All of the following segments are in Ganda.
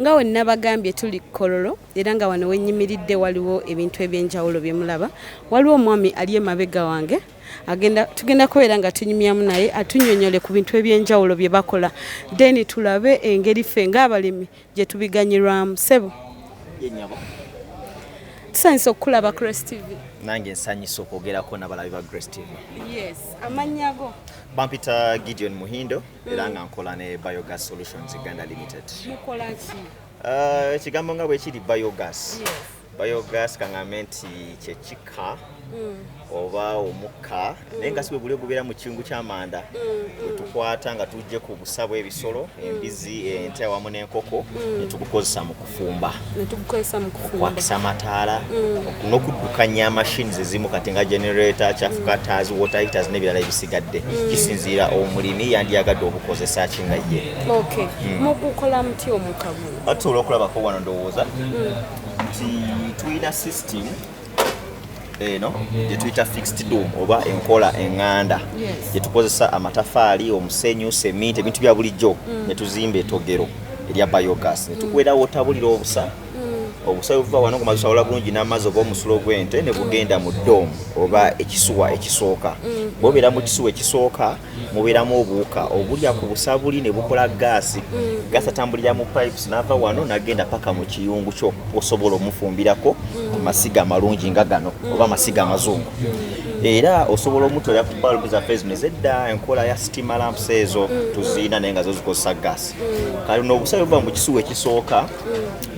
nga we nabagambye tuli kololo era nga wano wenyimiridde waliwo ebintu ebyenjawulo byemulaba waliwo omwami ali emabega wange agenda tugenda kubeera nga tunyumyamu naye atunyonyole ku bintu ebyenjawulo bye bakola then tulabe engeri ffe ng'abalimi gye tubiganyirwamu ssebo ye nyabo tusanyusa okukulaba grace tv nange nsanyusa okwogerako nabalabi ba grace tv yes amannya go bampita gideon muhindo mm. era nga nkola ne biogas solutions uganda limited mukolaki uh, ekigambo uh, nga bwekiri biogas yes. biogas kaŋambe nti kyekika mm. oba omukka mm. naye nga si bweguli ogubeera mu kiyungu ky'amanda mm, wetukwata nga tujje ku busa bw'ebisolo embizi ente awamu n'enkoko netugukozesa mu kufumba okwakisa amataala n'okuddukanya mashini zezimu kati nga generator cafukatas water heaters n'ebirala ebisigadde kisinziira omulimi yandiyagadde obukozesa kinga ye mugukola muti omukagu tusobola okulabako wano ndowooza nti tulina system eno gyetuyita fixed dom oba enkola eŋŋanda gyetukozesa amatafaali omusenyu seminti ebintu bya bulijjo mm. netuzimba etogero erya biogas netukwerawo otabulira obusa mm. obusa buva wano kumazusawola bulungi n'amazzi oba omusulo gw'ente ne bugenda mu dom oba ekisuwa ekisooka mm. bobeera mu kisuwa ekisooka mubeeramu obuwuka obulya ku busabuli ne bukola gaasi mm. gaasi atambulira mu pipes n'ava wano nagenda paka mu kiyungu kyo osobola omufumbirako mm. amasiga amalungi nga gano mm. oba amasiga amazungu era osobola omutwera ku balbu zaffe zino ezedda enkola ya stima lamps ezo tuziina naye nga zo zikozesa gaasi kale no obusabe buba mu kisuwa ekisooka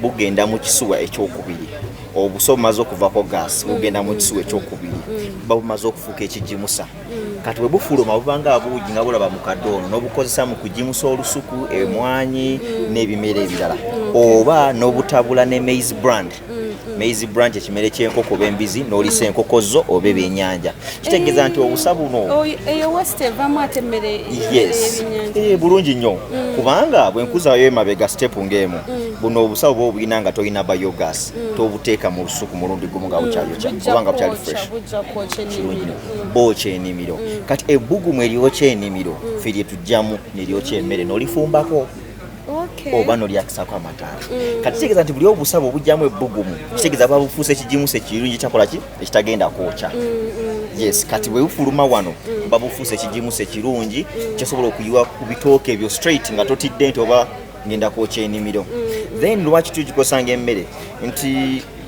bugenda mu kisuwa ekyokubiri obusa obumaze okuvako gaasi bugenda mu kisuwa ekyokubiri buba bumaze okufuuka ekigimusa mm. kati bwebufuluma bubanga abuugi nga bulaba mukadde ono nobukozesa mu kujimusa olusuku mm. emwanyi mm. n'ebimera ebirala oba nobutabula ne maize brand maize branch ekimere kyenkoko oba embizi nolisa enkoko zo oba ebyenyanja kitegeeza nti obusa buno oh, eh, bulungi nnyo kubanga bwenkuzayo emabega stepu ngaemu buno obusawo bwoba obulina nga tolina biogas mm. tobuteeka mu lusuku mulundi gumu nga bukyayokya mm. oba nga bukyali fresh bookya enimiro mm. kati ebbugumu eryokya enimiro mm. fe lye tujjamu neryokya emmere nolifumbako oba nolyakisako amataala mm. kati kitegeeza nti buli obusabo obujjamu ebbugumu kitegeeza babufuusa ekigimusa ekirungi kyakola ki ekitagenda kwokya yes kati bwe bufuluma wano babufuusa ekigimusa ekirungi kyasobola okuyiwa ku bitooke ebyo straight nga totidde nti oba ngenda kwokya enimiro then lwaki tugikosanga emmere nti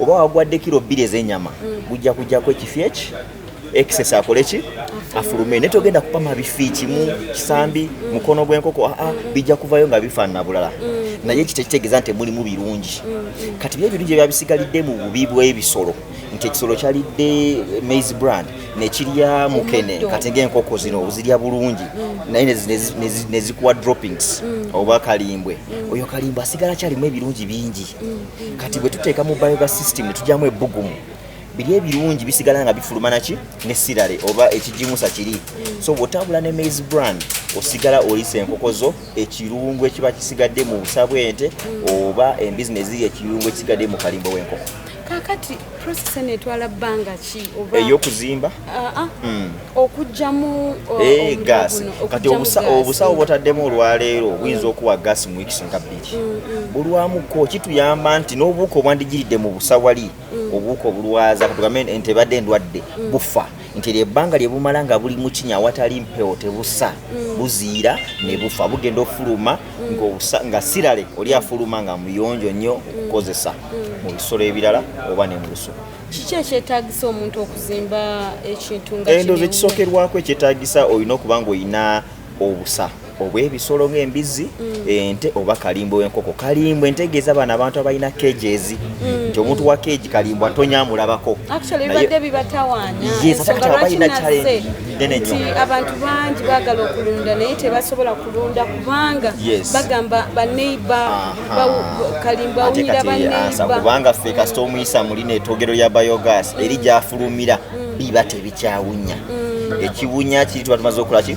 oba wagwadde kiro bbiri ezenyama gujja mm. kujjako ekifi eki excess akole ki afulume naye togenda kupama bifi kimu kisambi mm. mukono gw'enkoko aa ah, ah, mm. bijja kuvayo nga bifaanana bulala naye ekyo tekitegeeza nti mulimu birungi kati byo ebirungi ebya bisigalidde mu bubi bw'ebisolo nti ekisolo kyalidde maize brand nekirya mukene kati ngaenkoko zino ozirya bulungi naye nezikuwa droppings oba kalimbwe oyo kalimbwe asigala kyalimu ebirungi bingi kati bwe tuteeka mu bioga system ne tujyamu ebbugumu biri ebirungi bisigala nga bifuluma naki ne sirale oba ekigimusa kiri so bw'otambula ne maize brand osigala oyisa enkoko zo ekirungu ekiba kisigadde mu busa bw'ente oba embizi ne ziri ekirungu ekisigadde mu kalimbo w'enkoko kakati process eno etwala bbanga ki oba ey'okuzimba ah, ah. Hmm. okujjamu uh, eh, gas kati obusawo bwotaddemu olwaleero hmm. buyinza okuwa gas mu weeks nga bbiri hmm, bulwamuko kituyamba nti n'obuwuka obwandigiridde mu busawali obuwuka obulwaza katugambe nti ebadde endwadde bufa nti eryo ebbanga lye bumala nga buli mu kinya awatali mpewo tebusa buziira ne bufa bugenda ofuluma nga sirale oli afuluma nga muyonjo nnyo okukozesa mu bisolo ebirala oba ne mu lusuku kiki ekyetagisa omuntu okuzimba ekintu nga endoozi ekisokerwako ekyetagisa olina okuba nga olina obusa obw'ebisolo ng'embizzi mm. ente oba kalimbo w'enkoko kalimbo entegeeza bano abantu abalina kejezi mm. nti omuntu wa keji kalimbo atonyamulabako nti abantu bangi bagala okulunda naye tebasobola kulunda kubanga bagamba baneiba kalimba awunyira baneiba ffe kasita omuyisa muli netwogero lya biogas eri gyafulumira mm. biba tebikyawunya mm. ekiwunya kiri tuba tumaze okolaki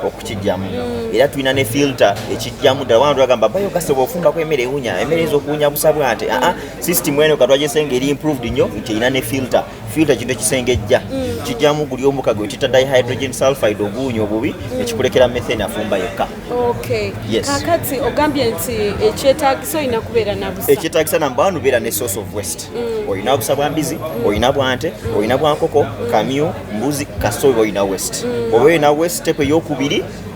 okukijjamu mm. era tulina ne filter ekijjamu ddala wana twagamba biogas oba ofumbako emere ewunya emere ezo okuwunya busa bwante aa system eno katwajese nga eri improved nnyo nti erina ne filter filter kintu ekisengejja mm. kijjamu guli omuka gwe tita dihydrogen sulfide oguunya obubi mm. ekikulekera methane afumba yokka kakati ogambye nti ekyetagisa olina kubeera nabusa ekyetagisa namba wanu beera ne source of west mm. olina obusa bwa mbizi olina bwante olina bwankoko kamyu mbuzi kasooba olina west oba olina west tepe yokubiri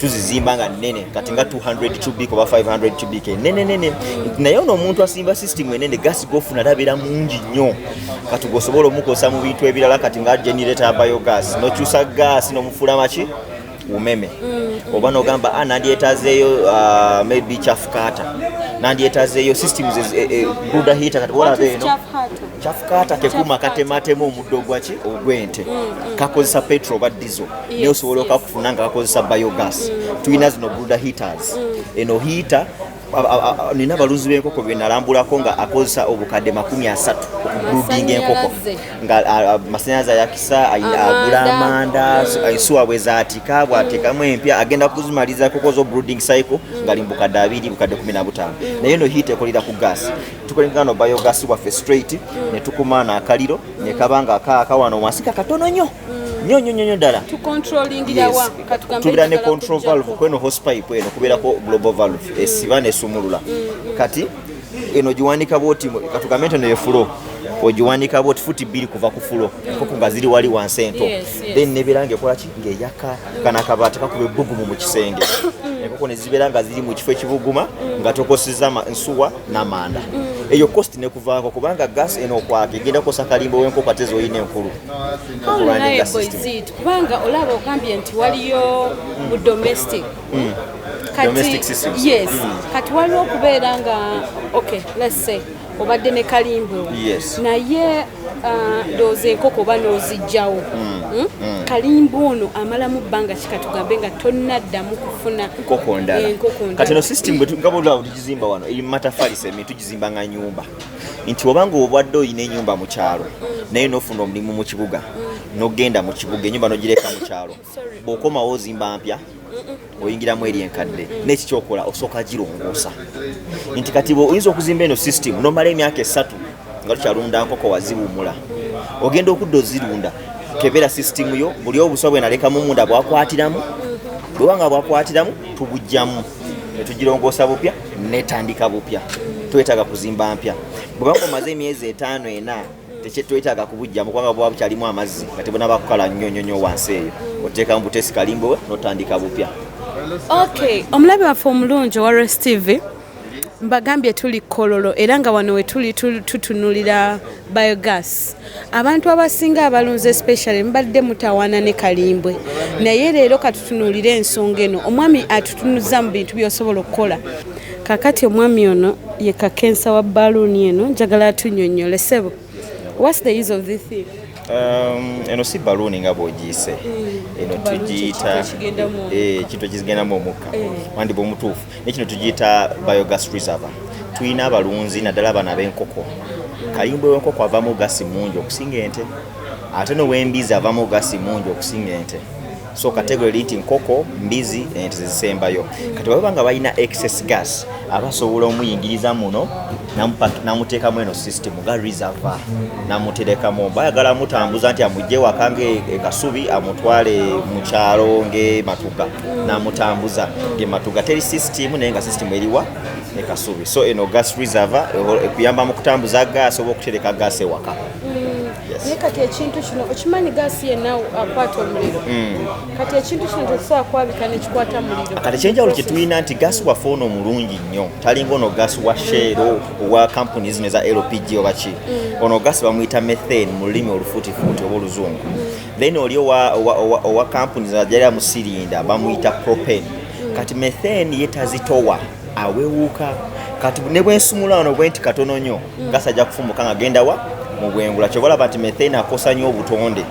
tuzizimba nga nene kati nga 200 cubic oba 500 cubic nene nene naye ono omuntu asimba system enene gas gofuna tabera mungi nnyo kati gosobola omukosa mu bintu ebirala kati nga generator biogas nokyusa gas nomufula maki umeme mm. oba nogamba ah, nandyetazeeyo uh, maybe chafukata nandyetazeeyo systems e, e, buda hita kati wolabeeno kyafukaata kekuma katematema omuddo gwaki ogw'ente mm, mm. kakozesa petro oba dizo naye osobola okakufuna nga kakozesa biogas mm. tulina zino bruda heaters eno hiita nina abalunzi b'enkoko benalambulako nga akozesa obukadde makumi asatu okubrudinga enkoko nga masanyalaze ayakisa agula amanda ensuwa bwe zaatika bwatekamu empya agenda kuzimaliza enkoko zo bruding cycle ngali mu bukadde abiri bukadde kumi na butaano naye eno hiita ekolera ku gaasi tukolengana no biogas waffe straight mm. ne tukuma na akaliro mm. ne kabanga aka akawano wansi ka katono nyo mm. nyo nyo nyo dala to controlling yes. dawa katugambe tubira ne control valve kweno hose pipe eno kubira ko global valve mm. esiba ne sumulula mm. mm. kati eno jiwanika boti katugambe ntene yefulo ojiwanika boti futi bili kuva kufulo mm. koko ngaziri wali wansi ento yes, yes. then ne bilange kola ki nge yaka mm. kana kabati kakube bugumu mu kisenge mm. enkoko ne zibeera nga ziri mu kifo ekibuguma nga tokoseza nsuwa namanda eyo cost nekuvaako kubanga gas eno okwaka egenda kukosa kalimba wenkoko ate zoyina enkulu kubanga olaba ogambye nti waliyo mu domestic mm. yes mm. kati waliwo okubeera nga okay let's say obadde ne kalimba naye uh, ndowooza enkoko oba n'ozijjawo mm. Hmm? Mm. kalimba ono amalamu bbanga kikatugambe nga tonnaddamu kufuna enkoko ndala kati no system nga bwolaba tugizimba wano eri mumatafali semi tugizimba nga nyumba nti obanga obwadde olina enyumba mu kyalo naye nofuna omulimu mu kibuga nogenda mu kibuga enyumba nogireka mu kyalo bwokomawo ozimba mpya oyingiramu eri enkadde neki kyokola osooka girongoosa nti kati oyinza okuzimba eno system nomala emyaka esatu nga tukyalunda nkoko waziwumula ogenda okudda ozirunda kebera system yo buli obuswa bwenalekamu munda bwakwatiramu bwewanga bwakwatiramu tubujjamu netugirongoosa bupya netandika bupya twetaaga kuzimba mpya bwebanga omaze emyezi etaano ena tekyetwetaaga kubujjamu kubanga buba bukyalimu amazzi nga tebunaba kukala nnyo nnyo nnyo wansi eyo oteekamu butesi kalimbowe notandika bupya ok omulabe waffe omulungi owa res tv mbagambye tuli kololo era nga wano wetuli tutunulira biogas abantu abasinga abalunzi especially mubadde mutawaana ne kalimbwe naye leero katutunuulire ensonga eno omwami atutunuza mu bintu byosobola okukola kakati omwami ono ye kakensa wa baluuni eno njagala atunyonyole sebo whats the use of this thing Um, eno si baluuni nga bwogiyise mm. eno tugiyita ekintu eh, ekigendamu omukka eh. wandi bwomutuufu naye kino tugiyita biogas reserve tulina abalunzi naddala abaana b'enkoko kayumba w'enkoko avamu gasi mungi okusinga ente ate nowembizi avamu gasi mungi okusinga ente so kategori nti nkoko mbizi ente zezisembayo kati baba nga balina excess gas abasobola omuyingiriza muno namuteekamu eno system nga reserva namuterekamu bayagala amutambuza nti amugje waka ngaekasubi e amutwale mukyalo ngematuga namutambuza ngematuga teri system naye nga system eriwa ekasubi so eno gas reserva ekuyamba mu kutambuza gas oba okutereka gas ewaka mm. naye kati ekintu kino okimanyi gaasi yenna akwata omuliro mm. kati ekintu kino tetusobola kwabika nekikwata muliro kati ekyenjawulo kyetulina nti gaasi waffe ono omulungi nnyo talinga ono gaasi wa sheero owa kampuni zino eza lpg oba ki mm. ono gaasi bamuyita methane mu lulimi olufuutifuuti oba oluzungu mm. then oli owa kampuni zino ajali amusirinda bamuyita propane mm. kati methane ye tazitowa awewuuka kati ne bwensumula ono bwenti katono nnyo gaasi ajja kufumuka nga genda wa mu bwengula kyobalaba nti methane akosa nnyo obutonde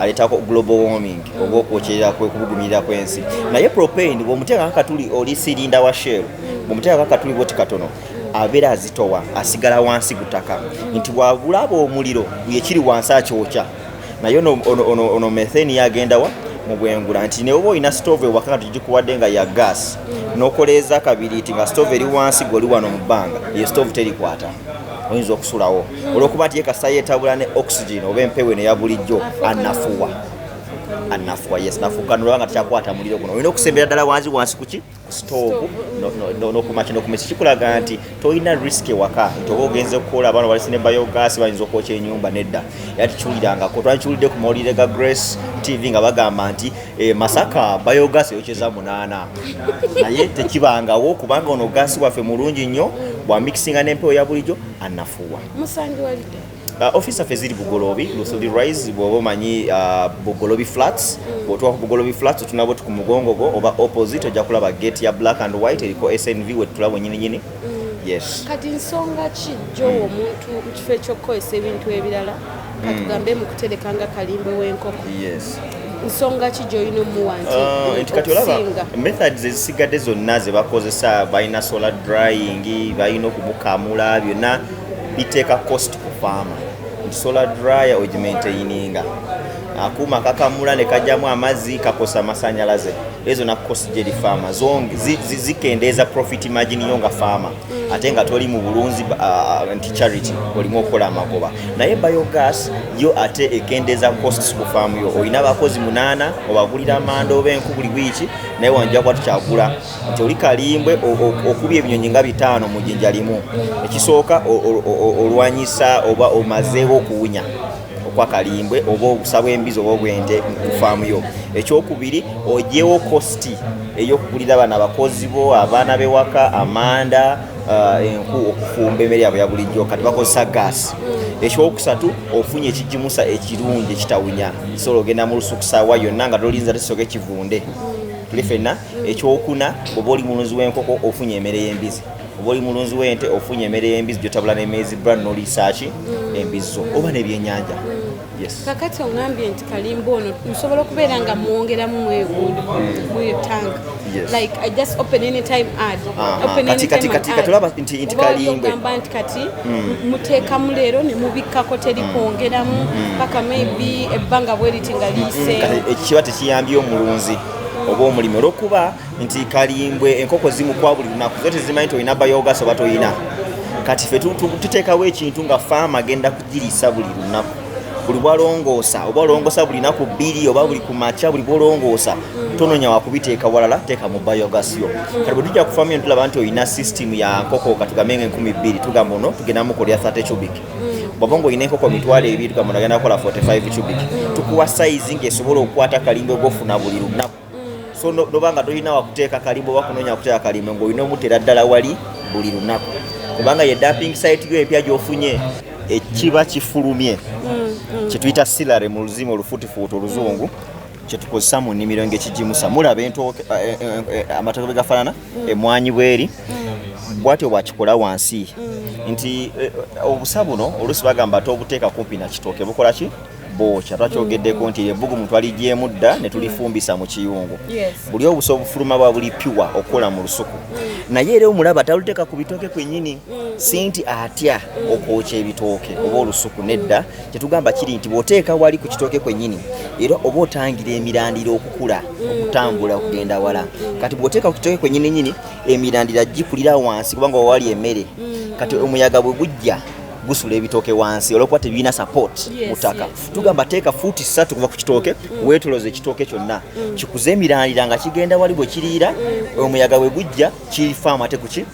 aleetako global warming oba okwokyerera kwekubugumirira kw'ensi naye propane bwomuteekako katuli oli sirinda wa shell bwomuteekako katuli boti katono abeera azitowa asigala wansi gutaka nti bwabulaba omuliro yekiri wansi akyokya naye ono metheni yagendawa mubwengula nti neoba olina stove ewaka nga tugikuwadde nga ya gas nokoleeza kabiri ti nga stove eri wansi goli wano mu bbanga ye stove terikwata oyinza okusulawo olwokuba nti yekasa yetabula ne oxygen oba empewo eno yabulijjo anafuwa anafuwa yes nafukanulaba nga tekyakwata muliro guno olina okusembera ddala wansi wansi kuki stove nokumaki nokumisa kikulaga nti tolina risk ewaka nti oba ogenze okukola abaana balisi ne biogas bayinza okwokya enyumba nedda era tikiwulirangako twakiwulidde ku mawulire ga grace tv nga bagamba nti eh, masaka biogas eyokyeza munaana naye tekibangawo kubanga ono gasi waffe mulungi nnyo bwamikisinga n'empewo ya bulijjo anafuwa musangibwalidde uh, office zaffe ziri bugolobi lusuli rise bwoba omanyi uh, bugolobi flats mm. bwotuwa ku bugolobi flats otunabo ti ku mugongo gwo oba opposite ojja kulaba gate ya black and white eriko snv wetutulabo nyininyini mm. yes kati nsonga ki gyowa omuntu mu kifo ekyokukozesa ebintu ebirala katugambe mu kutereka nga kalimbe w'enkoko yes nsonga ki gyolina omuwa nti ah, kati olaba methods ezisigadde zonna ze bakozesa balina solar drying balina okumukamula byonna biteeka cost ku faama nti solar dryer ogimaintaininga akuuma kakamula ne kajjamu amazzi kakosa amasanyalaze ezo na cost gyeri faama zikendeeza profit margin yo nga faama mm. ate nga toli mu bulunzi uh, nti charity olimu okukola amagoba naye biogas yo ate ekendeeza costs ku faamu yo olina abakozi munaana obagulira amanda oba enku buli wiiki naye wanjja kuba tukyagula nti oli kalimbwe okubya ebinyonyi nga bitaano mu jinja limu ekisooka olwanyisa oba omazeewo okuwunya okwa kalimbwe oba obusa bw'embizi oba obw'ente ku faamu yo ekyokubiri ogyewo kositi ey'okugulira bano abakozi bo abaana b'ewaka amanda uh, enku okufumba emmere yabwe ya bulijjo kati bakozesa gaasi ekyokusatu ofunye ekigimusa ekirungi ekitawunya sobola ogenda mu lusukusawa yonna nga tolinza tesoka ekivunde tuli fenna ekyokuna oba oli mulunzi w'enkoko ofunye emmere y'embizi oba oli mulunzi w'ente ofunye emere y'embizzi gyotabula n'emeezi brand n'oliisaaki mm. embizzo oba n'ebyenyanja mm. kakati oŋambye nti kalimba ono nsobola okubeera nga mwongeramu mwegundi muyo mm. tank like i just open any time ad open any time ad katulaba nti nti kalimbe ogamba nti kati muteekamu leero ne mubikkako teri kwongeramu paka maybe ebbanga bweriti nga liise ekiba tekiyambye omulunzi oba omulimi olwokuba nti kalimbwe enkoko zimukwa buli lunaku zo tezimanyi nti olina bayogas oba tolina kati fe tuteekawo ekintu nga faama agenda kugirisa buli lunaku buli bwalongoosa oba olongoosa buli naku bbiri oba buli kumakya buli bwolongoosa tononya wakubiteeka walala teeka mu bayogas yo kati bwe tujja kufamu yo tulaba nti olina system ya nkoko katugambe nga enkumi bbiri tugamba ono tugenda mukolera 30 cubic bwaba ngaolina enkoko mitwalo ebiri tugamba ono agenda kukola 45 cubic tukuwa sayizi ngaesobola okukwata kalimba ogwofuna buli lunaku mm. so noba nga tolina wakuteeka kalimba oba kunoonya kuteeka kalimba ng'olina omutera ddala wali buli lunaku kubanga ye dumping site yo epya gyofunye ekiba kifulumye mm, mm. kyetuyita silare mu luzimu olufuutifuuti oluzungu kyetukozesa mu nnimiro ngaekigimusa mulaba eh, eh, eh, amatoke bwe gafaanana mm. emwanyi bweri bwatyo bwakikola wansi nti obusa buno oluusi bagamba ate obuteeka kumpi nakitooke bukola ki bookya twakyogeddeko nti ebbugumu twaligyemu dda ne tulifumbisa mu kiyungu buli obusa obufuluma bwa buli piwa okukola mu lusuku naye era omulaba taluteeka ku bitooke kwennyini si nti atya okwokya ebitooke oba olusuku nedda kyetugamba kiri nti bw'oteeka wali ku kitooke kwennyini era oba otangira emirandira okukula okutambula okugenda wala kati bw'oteeka ku kitooke kwennyini nyini emirandira gikulira wansi kubanga wawali emmere kati omuyaga bwe gujja gusula ebitooke wansi olwokuba tebirina support mutaka tugamba teeka fuuti ssatu kuva ku kitooke mm. wetoloza ekitooke kyonna mm. kikuze emirandira nga kigenda wali bwe kiriira mm. omuyaga bwe gujja kifaamu ate kuki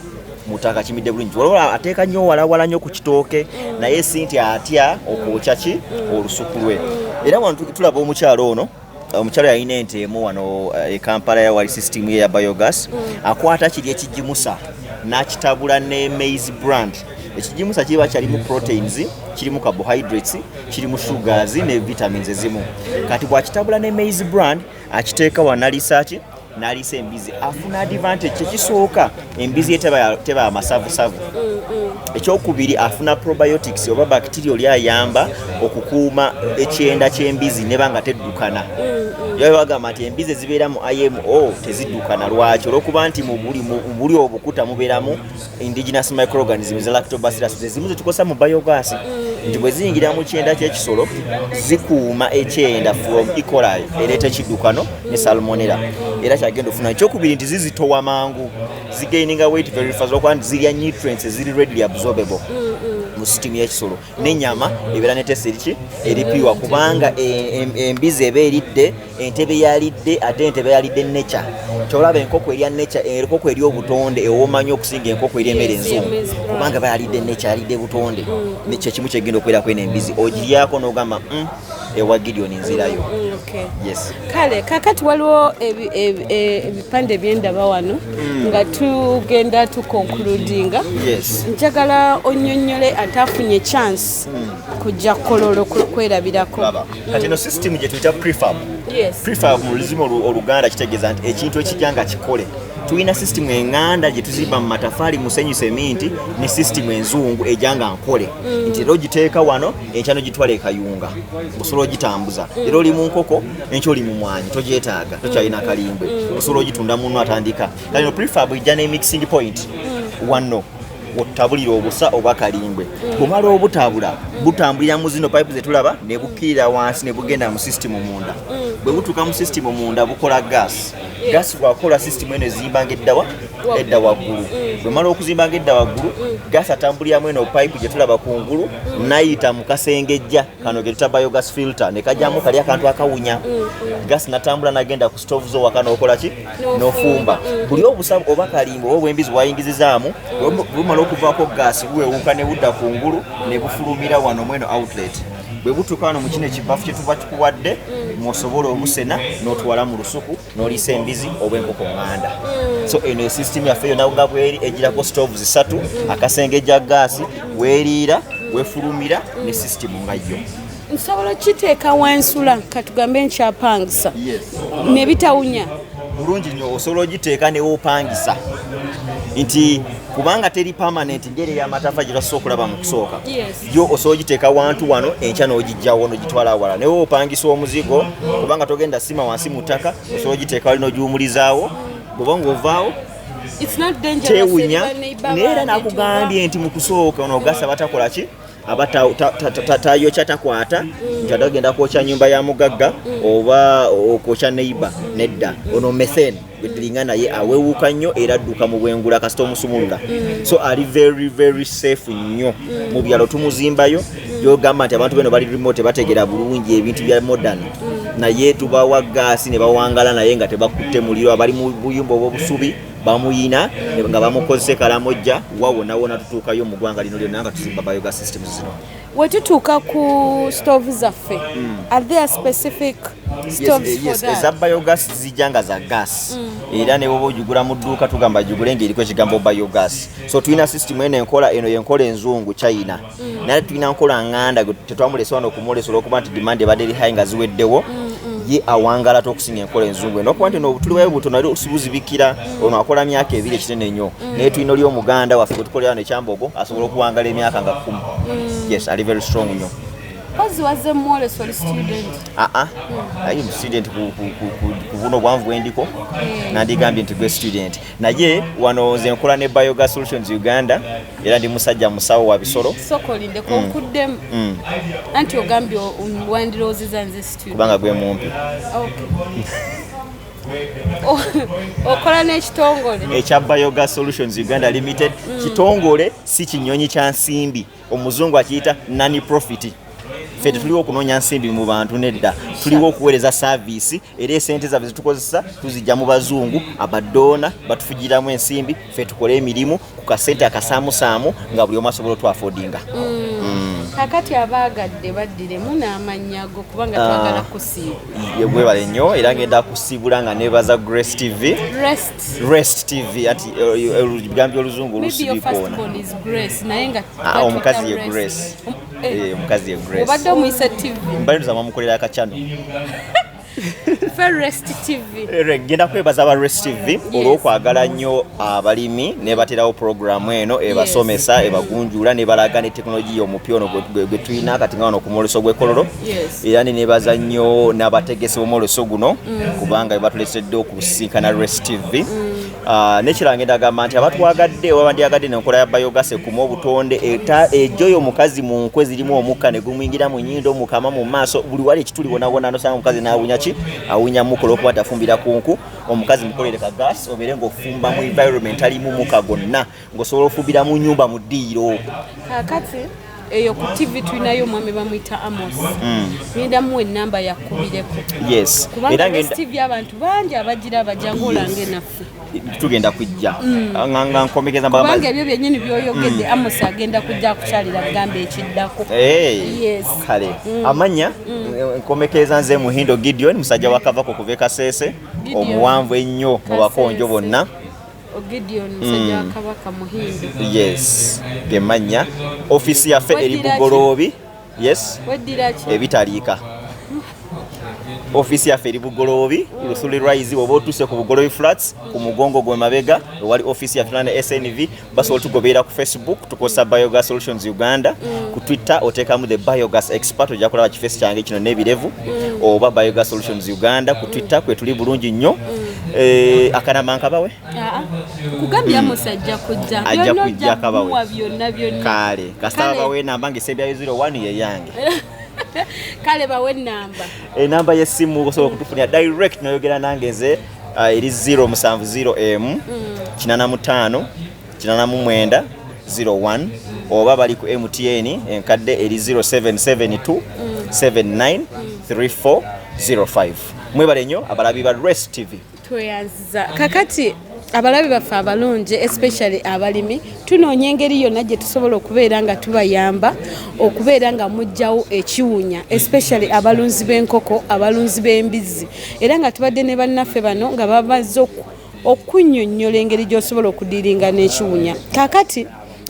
mutaka kimidde bulungi waliwo ateeka nnyo walawala nnyo ku kitooke naye si nti atya okwokya ki olusuku lwe era wano tulaba omukyalo ono omukyalo yalina ente emu wano eh, e kampala yawali system ye ya biogas mm. akwata kiri ekigimusa n'akitabula ne maize brand ekigimusa kiba kyalimu proteins kirimu carbohydrates kirimu sugars ne vitamins ezimu kati bwakitabula ne maize brand akiteeka wanalisaaki nalisa embizi afuna advantage kyekisooka embizi ye teba amasavusavu ekyokubiri afuna probiotics oba bacteria oli ayamba okukuuma ekyenda kyembizi neba nga teddukana bagamba nti embizi ezibeera mu imo teziddukana lwaki olwokuba nti mubuli obukuta mubeeramu indigenous microorganisms lactobacillus zezimu zetukozesa mu biogas nti bwe ziyingira mu kyenda ky'ekisolo zikuuma ekyenda from ecolai ereeta ekiddukano ne salmonera era kyagenda ofuna ekyokubiri nti zizitowa mangu zigaininga weight very fast okuba nti zirya nutrients eziri readily absorbable mu sitimu y'ekisolo n'enyama ebeera ne tesi eriki eripiwa kubanga embizi eba eridde entebe yalidde ate entebe yalidde neca kyolaba enkoko erya neca enkoko eri obutonde ewomanyo okusinga enkoko eri emere enzungu kubanga bayalidde neca yalidde butonde mm. kyekimu kyegenda okubeerako eno embizi ogiryako nogamba mm. ewa Gideon nzirayo. Mm, okay. Yes. Kale kakati waliwo e, ebipande byendaba wano mm. nga tugenda tukonkludinga. Yes. Njagala onyonyole atafunye chance mm. kujja kololo kwerabirako. Mm. Kati no system gye tuyita prefab. Yes. Prefab mu luzima oluganda kitegeeza nti ekintu ekijja nga kikole tulina system enganda gye tuzimba mu matafali musenyu seminti ne system enzungu ejanga nkole mm. nti era ogiteeka wano enkyano gitwala ekayunga osobola ogitambuza mm. era oli mu nkoko enkyo oli mu mwanyi togyetaaga tokyalina kalimbe mm. osobola ogitunda munno atandika kalino prefab ejja ne mixing point mm. wanno otabulira obusa oba kalimbwe bumala obutabula butambulira mu zino pipe zetulaba nebukkirira wansi nebugenda mu system munda bwe butuuka mu system munda bukola gas gasi bwakola sisitimu eno ezimbanga eddawa edda waggulu mm. bwemala okuzimbanga edda waggulu mm. gasi atambuliramu eno payipu gye tulaba ku ngulu mm. nayita mu kasengejja kano ge tuta biogas filter ne kajjamu kali akantu akawunya gasi natambula nagenda ku stove zo waka nokola ki nofumba buli obusa oba kalimba oba obwembizi bwayingizizaamu bumala okuvaako gasi buwewuka ne budda ku ngulu ne bufulumira wano mweno outlet bwe butuuka wano mu kino ekibbafu kye tuba tukuwadde mwosobola obusena n'otwala mu lusuku n'oliisa embizi oba enkoko nganda mm. so eno esystem yaffe yona nga bweri egirako stove zisatu mm. akasenge gya gaasi weriira mm. wefulumira ne system nga yo nsobola okukiteeka wansula katugambe nkyapangisa nebitawunya bulungi nyo osobola ogiteeka newopangisa nti kubanga teri permanent ngeri eyamatafa gyebasobola okulaba mu kusooka yo osobola ogiteeka wantu wano enkya n'ogijjawo n'ogitwala awala naye opangisa omuzigo kubanga togenda sima wansi mu ttaka osobola ogiteeka wali n'ogiwumulizaawo bwoba ng'ovaawo tewunya naye era nakugambye nti mu kusooka onogasa batakola ki aba tayokya takwata nti atagenda kwokya nyumba ya mugagga mm. oba okwokya neighbor nedda ono methane gwetulinga naye awewuka nnyo era adduka mu bwengula kasita omusumulula mm. so ali very very safe nnyo mm. mu byalo tumuzimbayo mm. yogamba nti abantu beno bali remote bategera bulungi ebintu bya modern naye tubawa gaasi ne bawangala naye nga tebakutte muliro abali mu buyumba obwobusubi bamuyina nga bamukozese kalamojja wawonawona tutuukayo mu ggwanga lino lyonna nga tuzimba biogas systems zino wetutuuka ku stove zaffe mm. are there specific eza biogas zijja nga za gas mm. era ne bwoba ogigula mu dduuka tugamba gigule ngaeriko ekigambo biogas so tulina system eno enkola eno yenkola enzungu china mm. naye tulina nkola nganda tetwamulesa wano okumulesa olwokuba nti demand ebadde eri hai nga ziweddewo mm, ye awangalata okusinga enkola enzungu eno okuba nti no tuliwayo butono ali osibuzibikira ono akola myaka ebiri ekinene nnyo mm. naye tulina oli omuganda waffe gwetukolera no ekyambogo asobola okuwangala emyaka nga kumi mm. yes ali very strong nnyo aa ah, ah. mm. aye student ku buno obwanvu bwendiko nandigambye nti gwe student naye wano nze nkola ne bioga solutions uganda era ndi musajja musawo wa bisolo kubanga gwe mumpi okola n'ekitongole ekya biogas solutions uganda limited mm. kitongole si kinyonyi kya nsimbi omuzungu akiyita nani profit ffe tetuliwo okunoonya nsimbi mu bantu nedda tuliwo okuweereza saaviisi era esente zaffe zitukozesa tuzijja mu bazungu abadoona batufugiramu ensimbi ffe tukole emirimu ku kasente akasaamusaamu nga buli omu asobola otwafodinga mm. mm. kakati abaagadde baddiremu n'amannya go kubanga ah. twagala kusiibwebale nnyo era ngenda kusiibula nga nebaza grace tv rest tv ati ebigambi eh, eh, oluzungu olusibiikoona ah, omukazi ye grace eh. omukazi ye grace obadde omuyise tv mbalinza mamukolera akacano Eh, genda kwebaza aba rest tv olwokwagala nnyo abalimi nebaterawo puroguramu eno ebasomesa ebagunjula nebalaga ne tekinologiya omupya ono gwe tulina kati nga wano ku mwoleso gw'ekololo era nenebaza nnyo n'abategesi b'omwoleso guno mm. kubanga bebatulesedde okusisinkana rest tv mm. Ah, nekiranga endagamba nti abatwagadde oba bandyagadde nenkola ya biogas ekuma obutonde ejoyo omukazi mu nkwe zirimu omukka negumwingira mu nyindo mukama mu maaso buli wali ekituli wonawona nosanga omukazi nawunya ki awunya mukola okuba tafumbira ku nku omukazi mukolere ka gas obeere ngaofumba mu environment alimu muka gonna ngosobola ofubira mu nyumba mu ddiiro kakati eyo ku tv tulinayo omwami bamuyita amos mm. ngenda muwa enamba yakubireko kubangatv abantu bangi abagira bajangu olanga enaffe tugenda kujja mm. ah, nga nkomekeza kubanga ebyo byenyini byoyogedde mm. amos agenda kujja kukyalira kugamba ekiddako kale amanya nkomekeza nze muhindo gideon musajja wakavako kuva ekasese omuwanvu ennyo mu bakonjo bonna Gideon musajja wa mm. Kabaka Muhindu. Yes. Gemanya office yaffe eri Bugoloobi. Yes. Weddira ki? Ebitaliika. Office yaffe eri Bugoloobi, Lusuli Rise oba otuuse ku Bugoloobi Flats ku mugongo gwe mabega ewali office ya Finland SNV basi otugobeera ku Facebook tukozesa Biogas Solutions Uganda mm. ku Twitter oteekamu the Biogas Expert ojja kulaba kifeesi kyange kino n'ebirevu mm. oba Biogas Solutions Uganda ku Twitter kwe tuli bulungi nnyo. Eh, akanama nkabawe ah, ah. kugambira musajja kujja ajja kujja akabawe kale kasaba bawe namba nga esebyayo 01 yeyange kale bawe namba enamba eh, yesimu osobola okutufunira direct noyogera nange nze ah, eri 0 musanvu 0 m 85 mm. 88001 oba bali ku mtn enkadde eri 0772 79 3405 mwebale nnyo abalabi ba res tv tweyanziza kakati abalabi baffe abalungi especially abalimi tunoonya engeri yonna gye tusobola okubeera nga tubayamba okubeera nga mugjawo ekiwunya especially abalunzi b'enkoko abalunzi b'embizzi era nga tubadde ne bannaffe bano nga bamazze okunnyonnyola engeri gy'osobola okudiiringa n'ekiwunya kakati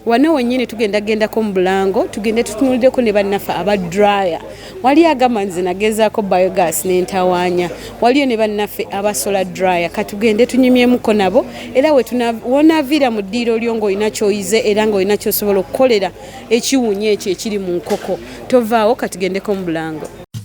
wana wenyini tugenda gendako mu bulango tugende tutunulideko ne bannaffe aba dryer waliyo agamba nze nagezaako biogas nentawaanya waliyo ne bannaffe abasola dryer katugende tunyumyemuko nabo era wonaviira mu ddiiro lyo ngaolina kyoyize era ngaolina kyosobola okukolera ekiwunya ekyo ekiri mu nkoko tovaawo katugendeko mu bulango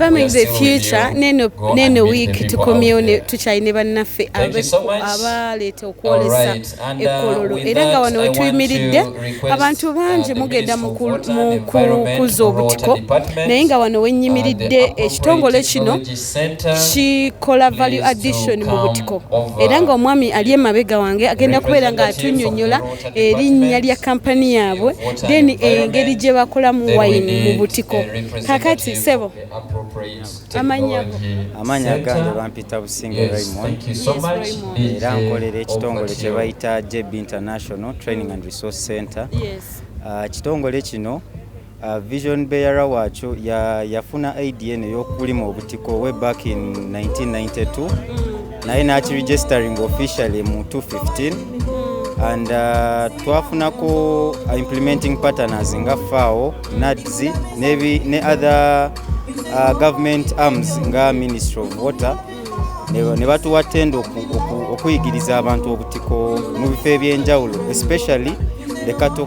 Farming is the future neno neno week to commune to China bannaffe abaleeta okwolesa uh, ekkololo era nga wano wetuyimiridde abantu uh, bangi mugenda mu kukuza obutiko naye nga wano wennyimiridde uh, ekitongole kino kikola value addition mu butiko era nga omwami ali emabega wange agenda kubeera nga atunyonyola erinnya lya kampani yaabwe then engeri gye bakolamu wayini mu butiko kakati sebo amanya amanya gandi bampita businge Raymond era nkolera ekitongole kye bayita JB International Training and Resource Center ah, kitongole kino Uh, vision bearer wacho yafuna ya idea neyokulima obutiko way back in 1992 mm. naye nakiregistering officially mu 215 and uh, twafunako implementing partners nga fao nads ne other uh, government arms nga ministry of water ne batuwa tenda okuyigiriza abantu obutiko mu bifo ebyenjawulo especially the cattle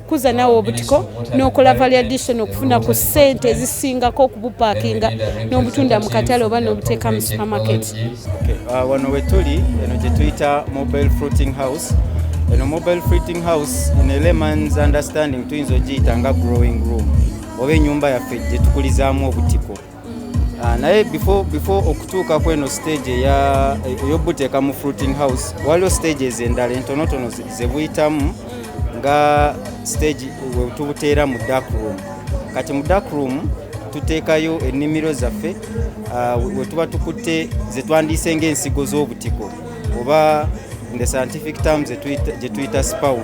kuza nawe obutiko nokola variadison okufuna ku sente ezisingako okubupakinga nobutunda mu katale oba nobuteeka mu supermarket uh, wano wetuli eno gyetuyita mobile fruiting house eno mobile fruiting house ino elemans understanding tuyinza ogiyita nga growing room oba enyumba yaffe gyetukulizaamu obutiko Ah, naye before before okutuuka kweno stage eyobuteeka mu fruiting house waliwo stages endala entonotono zebuyitamu nga stage wetubuteera mu dark room kati mu dark room tuteekayo ennimiro zaffe ah, wetuba tukutte zetwandiise ngaensigo z'obutiko oba the scientific terms gyetuyita spawn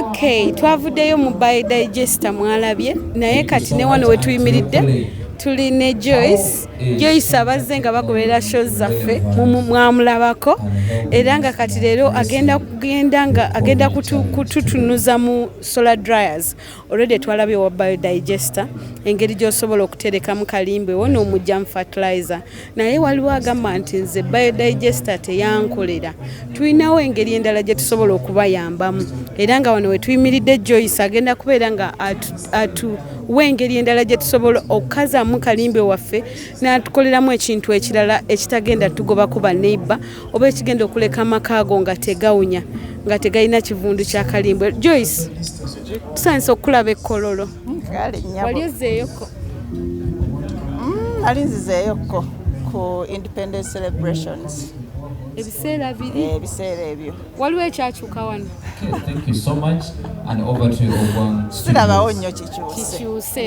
Okay, twavuddeyo mu by digester mwalabye naye kati ne wano wetuyimiridde tuli ne Joyce Joyce abazze nga bagoberera show zaffe mwamulabako era nga kati leero agenda kugenda nga agenda kututunuza mu solar dryers Already twalabye wa biodigester engeri gy'osobola okuterekamu kalimbwe wo n'omujjamu fertilizer naye waliwo agamba nti nze biodigester teyankolera tulinawo engeri endala gye tusobola okubayambamu era nga wano wetuyimiridde joyce agenda kubeera nga atuwa engeri endala gye tusobola okukazaamu kalimbwe waffe n'atukoleramu ekintu ekirala ekitagenda tugobako baneiba oba ekigenda okuleka amakaago nga tegawunya nga tegalina kivundu kya kalimbwe joyce tusanyusa okukulaba ekkololo wali ozeeyoko nali mm, nzizeeyoko ku independence celebrations ebiseera biri eh, ebiseera ebyo waliwo ekyakyuka wano sirabawo nnyo kikyuse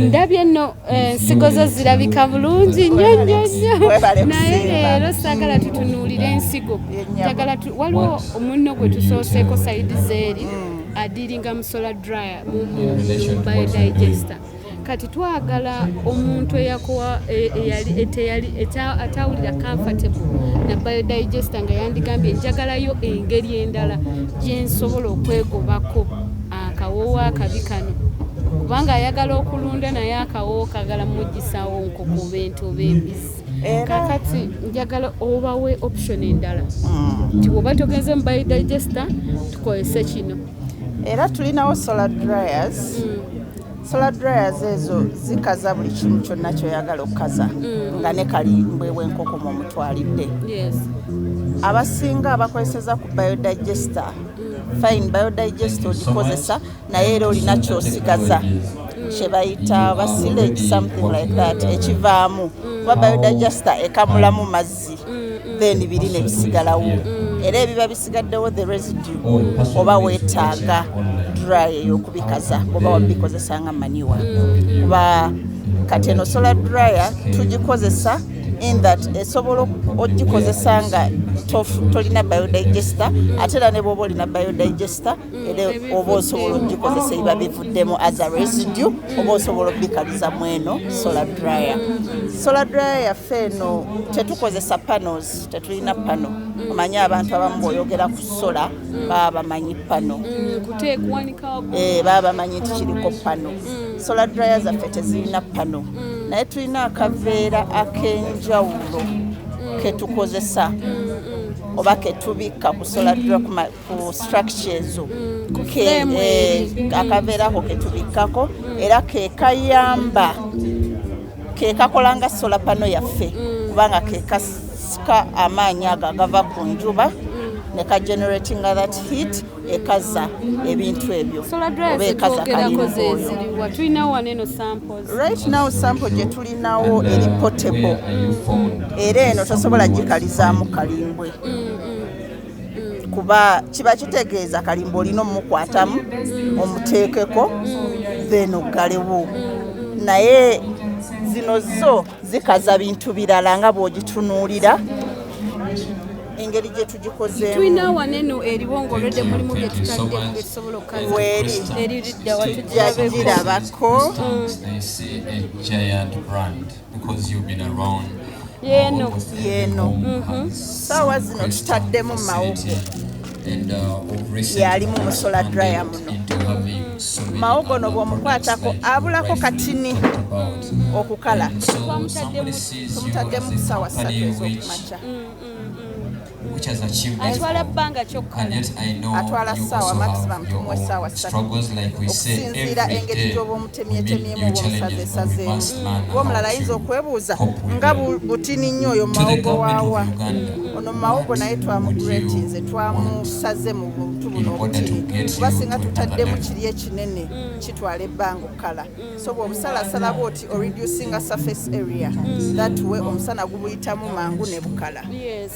ndabye nno eh, ensigo zo zirabika bulungi nnyo nnyo nnyo naye leero saagala tutunuulire ensigo waliwo omunno gwe tusooseko saidi zeeri mm. adiringa musola dryer mu bio digester kati twagala omuntu eyakowa e, atawulira comfortable na biodigester nga yandigambye njagalayo engeri endala gyensobola okwegobako akawoowo akabi kano kubanga ayagala okulunda naye akawoowo kagala mugisawo nkoko bentu oba embisi kakati njagala obawe option endala mm. nti woba togenze mu biodigester tukozese kino era tulinawo solar dryers mm. solar dryers ezo zikaza buli kimu kyonna kyoyagala okukaza mm. nga ne kali mbwewa enkoko mu mutwalidde abasinga abakozeseza ku biodigester fine biodigester ogikozesa naye era olina kyosigaza kyebayita basilage something like that ekivaamu kuba biodagesta ekamulamu mazzi then biri nebisigalawo era ebiba bisigaddewo the residue oba wetaaga dry eyokubikaza bwoba wabikozesa nga maniwa kuba kati eno solar dryer tugikozesa in that esobola ogikozesa nga tolina biodigester ate era ne bwoba olina biodigester mm, era oba osobola ogikozesa ebiba bivuddemu as a residue mm. oba osobola obikaliza mu eno solar dryer solar dryer yaffe eno tetukozesa panos tetulina pano mm. omanyi abantu abamu boyogera ku sola baba bamanyi pano eh, baba bamanyi nti kiriko pano solar dryer zaffe tezirina pano naye tulina akaveera ak'enjawulo ketukozesa oba ketubikka kusola ku structure ezo mm, eh, akaveerako ketubikkako mm. era kekayamba kekakola nga sola pano yaffe mm. kubanga kekasika amaanyi ago agava ku njuba neka generating that heat ekaza ebintu ebyo oba ekaza right now sample gye tulinawo eri potable era eno tosobola gikalizaamu kalimbwe mm. kuba kiba kitegeeza kalimba olina omukwatamu omuteekeko then oggalewo naye zino zo zikaza bintu birala nga bw'ogitunuulira engeri gye tugikozeemutulina wano eno eriwo ng'olwedde mulimu bye tutadde esobola okukazweeri eriridda watujjagirabako yeeno yeeno mhm. saawa zino tutaddemu mawugo uh, yalimu musola draya muno mawogo no bwomukwatako abulako katini okukala tomutaddemu kusaawa satu ezokumakya atwala bbanga kyokkaatwala ssaawa maximum tumuwa essaawa ssatu okusinziira engeri gy'oba omutemyetemyemu oba omusaze esazeemu oba omulala ayinza okwebuuza nga butini nnyo oyo mawogo waawa ono mawogo naye twamugratinze twamusaze mu buntu buno obutini kuba singa tutaddemu kiri ekinene kitwala ebbanga okukala so bwobusalasala bwoti o reducinga surface area mm. that way omusana gubuyitamu mangu ne bukala yes.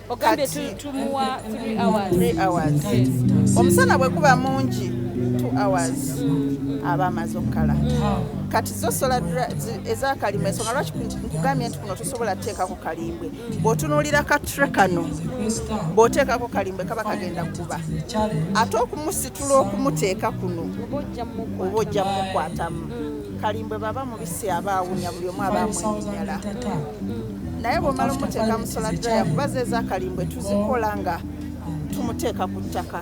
ogambye tumuwa 3 hours, 3 hours. Yes. omusana bwe guba mungi 2 hours mm. mm. aba amaze okukala mm. kati zo sola ezakalima ensonga lwaki nkugambye nti kuno tosobola teekako kalimbwe bw'otunuulira kattre kano bw'oteekako kalimbwe kaba kagenda kuba ate okumusitula okumuteeka kuno oba ojja mukwatamu kalimbwe baba mubisi aba awunya buli omu aba amwenyala naye bw'omala omuteeka musola draya kuba zeeza kalimbwe tuzikola nga tumuteeka ku ttaka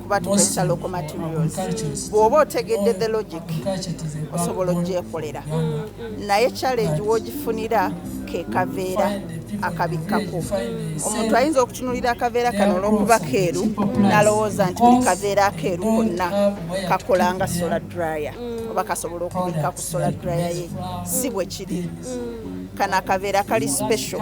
kuba tukozesa local materials bw'oba otegedde the logic osobola ogyekolera naye challenge w'ogifunira ke kaveera akabikkako omuntu ayinza okutunulira akaveera kano olw'okuba keeru nalowooza nti buli kaveera akeeru konna kakola nga sola dryer oba kasobola okubikka ku sola dryer ye si bwe kiri kana akaveera kali special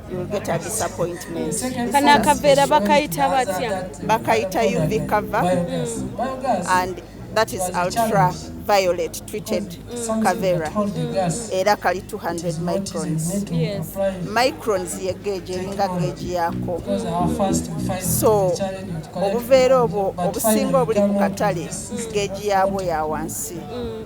kano akaveera bakayita batya bakayita uv cover mm. and that is ultra violet treated mm. cavera mm. era kali 200 microns yes. microns ye geegi eringa geegi yaako so obuveera obwo obusinga obuli ku katale geegi yaabwo ya wansi mm.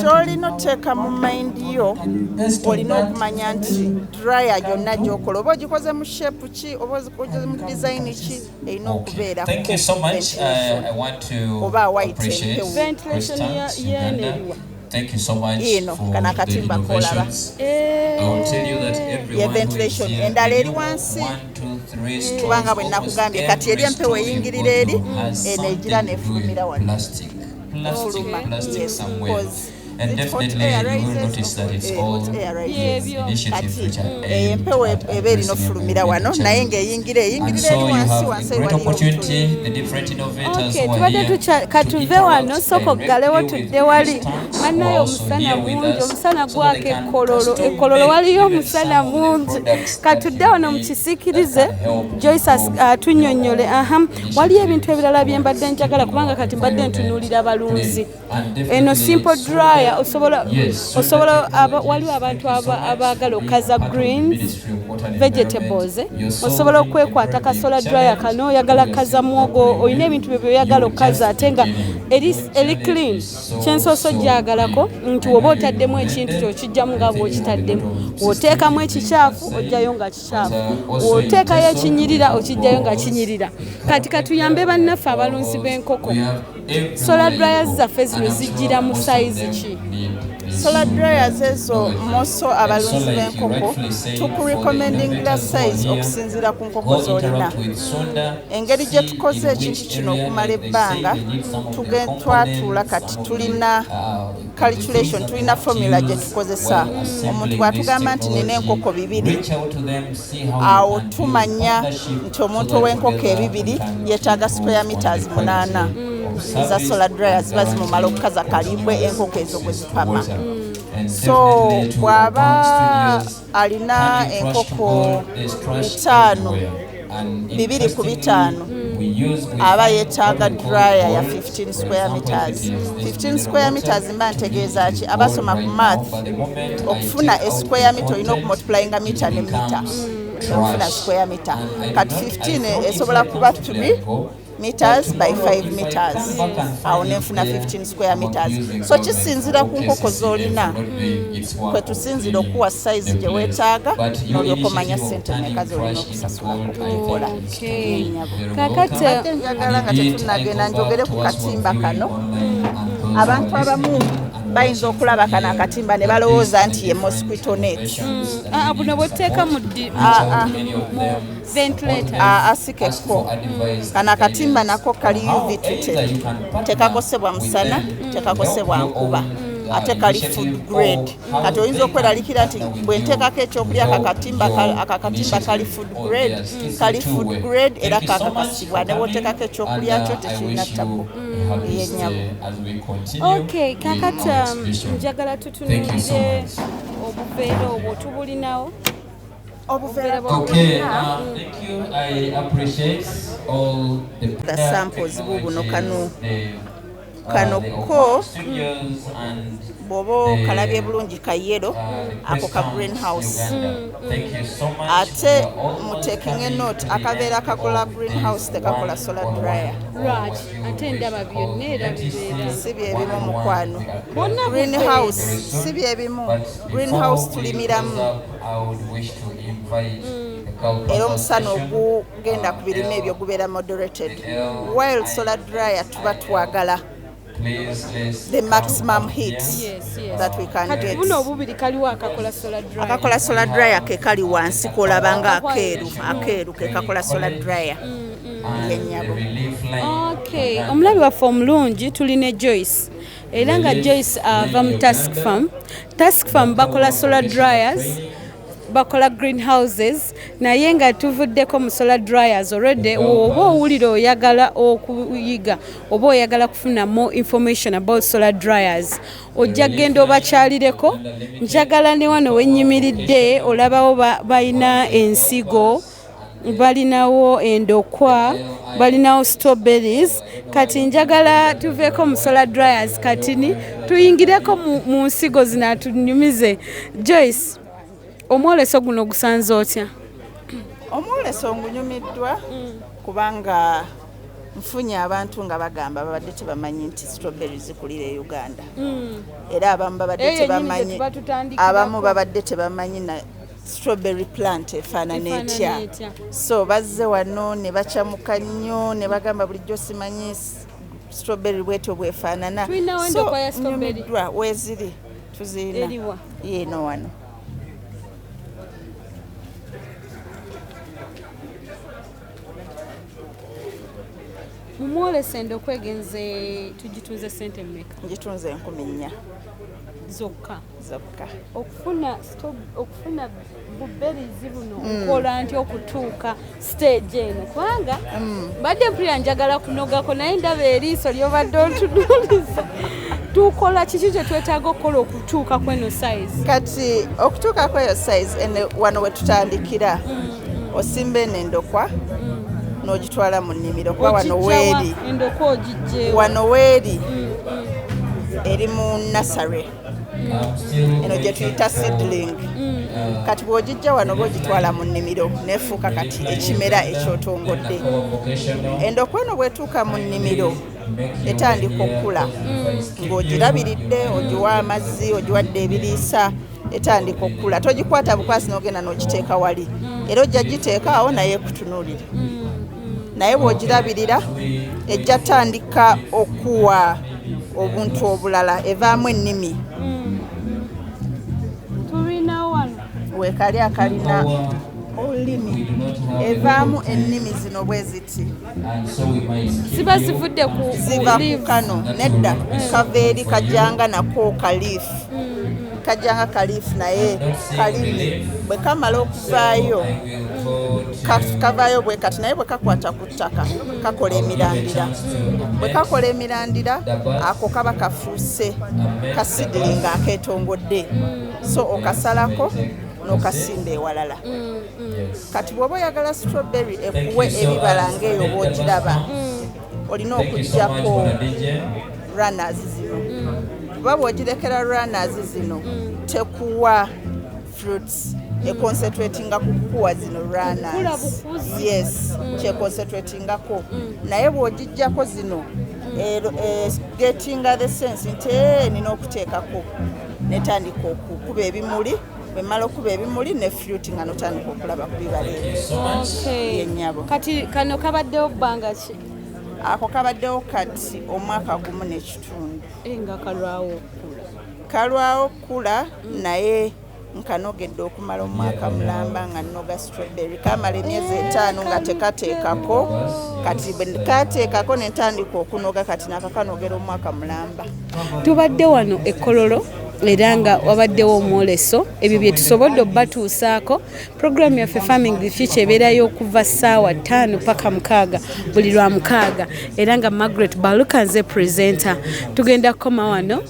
kyolina oteeka mu mayindi yo olina okumanya nti dryer yonna gyokola oba ogikoze mu shape ki oba ogikoze mu design ki erina okubeera uh, oba white ventilation yeneriwa Thank you so much you know, for kana katimba kolaba. Eh. I will tell you that everyone yeah, ventilation. Endala eri wansi. kubanga bwe nakugambye kati eri empewo eyingirira eri eno egira nefulumira wali oluma and definitely you will notice that it's eh, all initiative which are eh, empewo eba erina ofulumira wano naye ng'eyingira eyingirira eri wansi wansi tubadde tukya katuve wano sooka oggalewo tudde wali mannayo omusana mungi omusana gwaka ekkololo ekkololo waliyo omusana mungi katudde wano mukisikirize joyce atunyonyole uh, aha waliyo ebintu ebirala byembadde njagala kubanga kati mbadde ntunulira balunzi eno simple dryer osobola osobola waliwo abantu abaagala okaza greens vegetables eh? osobola okwekwata kasola dryer kano oyagala kaza mwogo olina ebintu bye byoyagala okaza ate nga eri clean kyensoose okyagalako nti woba otaddemu ekintu kyo kijjamu nga bwokitaddemu woteekamu ekikyafu ojjayo nga kikyafu woteekayo ekinyirira okijjayo nga kinyirira kati katuyambe bannaffe abalunzi b'enkoko sola dryer zaffe zino zijjira mu sayizi ki solar dryers ezo moso abalunzi b'enkoko tukurecommendingira size okusinziira ku nkoko z'olina engeri gye tukoze ekintu kino okumala ebbanga twatuula kati tulina calculation tulina formula gye tukozesa omuntu bw'atugamba nti nina enkoko bibiri awo tumanya nti omuntu ow'enkoko ebibiri yeetaaga square meters munaana eza solar dryer ziba zimumala okukaza kalimbwe enkoko ezo kwe zipama so bw'aba alina enkoko ttaano bibiri ku bitaano aba yetaaga dryer ya 15 square meters 15 square meters mba ntegeeza ki abasoma ku math okufuna esquare mita olina okumultiplyinga mita ne mita okufuna square mita kati 15 esobola kuba 3 meters by 5 meters awo nenfuna 15 square meters so kisinzira ku nkoko zolina hmm. kwetusinzira okuwa size gyewetaaga nolyoka omanya sente meka zolina okusasulakukikola kakate njagala nga tetunagenda njogere ku katimba kano hmm. abantu abamu bayinza okulaba kano akatimba ne balowooza nti ye mosquito net hmm. ah, buno bwetteeka mu ah, ah. asikekko mm. kano akatimba nako kali uv treated tekakosebwa musana mm. tekakosebwa nkuba mm. ate kali food grade kati oyinza okweralikira nti bwenteekako ekyokulya akakatimba kali food grade kali food grade era kakakasibwa newoteekako ekyokulya kyo tekirina ttako yenyabo okay kakati um, njagala tutunulire obuveera obwo tubulinawo obuvera okay, uh, thank you. I appreciate all the, the samples bubuno kanu uh, kano ko bwoba okalabye bulungi ka yero uh, ako ka greenhouse ate mutekinge note akabeera kakola greenhouse tekakola solar dryer si byebimu mukwano greenhouse si byebimu greenhouse tulimiramu era omusana ogugenda ku birime ebyo gubeera moderated while solar dryer tuba twagala the maximum heat that we can get akakola solar dryer ke kali wansi kolaba nga akeeru akeeru ke kakola solar dryer mm, mm. yenyabo omulabi waffe omulungi tuli ne joyce era nga Joyce ava mu task farm task farm bakola solar dryers bakola green houses naye nga tuvuddeko mu solar dryers already oba owulira oyagala okuyiga oba oyagala kufuna more information about solar dryers ojja genda obakyalireko njagala ne wano wenyimiridde olabawo balina ensigo ba balinawo endokwa balinawo strawberries kati njagala tuveeko musola dryers katini tuyingireko mu nsigo zino atunyumize joyce omwoleso guno gusanze otya omwoleso ngunyumiddwa kubanga nfunye abantu nga bagamba babadde tebamanyi nti strawberry zikulira e uganda mm. era abamu babadde tebamanyi abamu babadde tebamanyi strawberry plant efaanana etya so bazze wano ne bacamuka nnyo ne bagamba bulijjo simanyi strawberry bwetyo bwefaanana so nyumiddwa weziri tuzirina yeeno wano mumwolese nda okwegenze tugitunze sente mmeka ngitunze enkumi nnya zokka zokka okufuna okufuna buberizi buno mm. nkola nti okutuuka stage eno kubanga mm. mbadde mpulira njagala kunogako naye ndaba eriiso lyobadde ontunuliza tukola kiki kyetwetaaga okukola okutuuka kweno size kati okutuuka kweyo size wano wetutandikira mm, osimba eno endokwa nogitwala mu nnimiro kuba wano weeri wano weeri eri mu nasare eno gye tuyita seedling mm. kati bw'ogijja wano oba ogitwala mu nnimiro nefuuka kati ekimera ekyotongodde endokwa eno bwetuuka mu nnimiro etandika okukula mm. ng'ogirabiridde ogiwa amazzi ogiwadde ebiriisa etandika okukula togikwata bukwasi n'ogenda n'ogiteeka wali mm. era ojja giteeka awo naye ekutunuulire naye bwogirabirira ejja tandika okuwa obuntu obulala evaamu ennimi hmm. wekali akalina olulimi evaamu ennimi zino bwe ziti ziba zivudde ku ziva ku kano nedda kava eri kajanga nako kaliifu hmm. kajanga kaliifu naye kalimi bwe kamala okuvaayo kavaayo bwe kati naye bwe kakwata ku ttaka kakola emirandira bwe kakola emirandira ako kaba kafuuse kasidiri nga akeetongodde so okasalako n'okasimba ewalala mm, mm. kati bw'oba oyagala strawberry ekuwe ebibala ng'eyo bw'ogiraba mm. olina okugyako runners zino kuba bw'ogirekera runners zino tekuwa fruits econcentratinga ku kukuwa zino runners yes mm. kyeconcentratingako mm. naye bw'ogijjako zino e, e, gettinga the sense nti eh, nina okuteekako netandika okukuba ebimuli bwemala okuba ebimuli ne fruit nga notandika okulaba ku bibala ebyenyabo kati kano kabaddewo bbanga ki ako kabaddewo kati omwaka gumu n'ekitundu eh, nga kalwawo kalwawo kula naye nkanogedde okumala omwaka mulamba nga nnoga strawberry kamala emyezi etaano nga tekateekako kati kateekako nentandika okunoga kati nakakanogera omwaka mulamba tubadde wano ekololo era nga wabaddewo omwoleso ebyo bye tusobodde obatuusaako puroguramu yaffe farming the future ebeerayo okuva ssaawa ttaano paka mukaaga buli lwa mukaaga era nga margaret baluka nze presenter tugenda kukoma wano